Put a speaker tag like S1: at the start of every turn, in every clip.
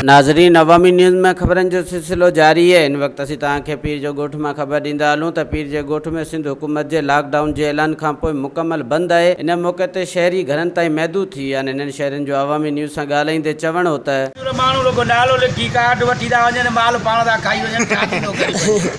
S1: ناظرين عوامي نيوز ۾ خبرن جو سلسلو جاري آهي هن وقت اسين توهان کي پير جو ڳوٺ مان خبر ڏيندا هلون ته پير جي ڳوٺ ۾ سنڌ حڪومت جي لاڪ ڊائون جي اعلان کانپوء مڪمل بند آهي ان موقعي تي شهري گهرن تائين محدود ٿي ويا آهن هنن شهرين جو عوامي نيوز سان ڳالهائيندي چوڻ هو ته. ماڻهو رڳو نالو لکي ڪارڊ وٺي ٿا وڃن مال پاڻ ٿا کائي وڃن ڇا ٿيندو
S2: غريبن جو.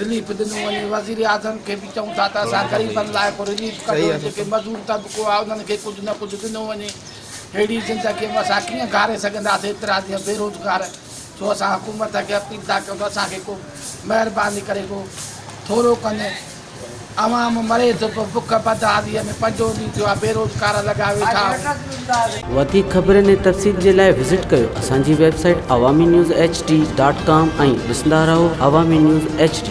S3: رليف ڏنو وڃي، وزيراعظم کي به چئون ٿا ته اسان غريبن لاء ڪو رليف ڪڍيو، جيڪي مزور طبقو آهي انهن کي ڪجهه نه ڪجهه ڏنو وڃي، ههڙي زندگي ۾ اسان ڪيئن گهاري سگهنداسين ايترا ڏينهن بيروزگار، سو اسان حڪومت کي اپيل ٿا ڪيون ته اسان کي ڪو مهرباني ڪري ڪو ٿورو ڪن. عوام مري ٿو پيو بک بدحاليء ۾ پنجون ڏينهن ٿيو آهي بيروزگار لڳا ويٺا آهن. وڌيڪ
S1: خبرن ۽ تفصيل جي لاء وزٽ ڪيو اسان جي website Awami news H D dot com ۽ ڏسندا رهو عوامي نيوز ايڇ ڊي.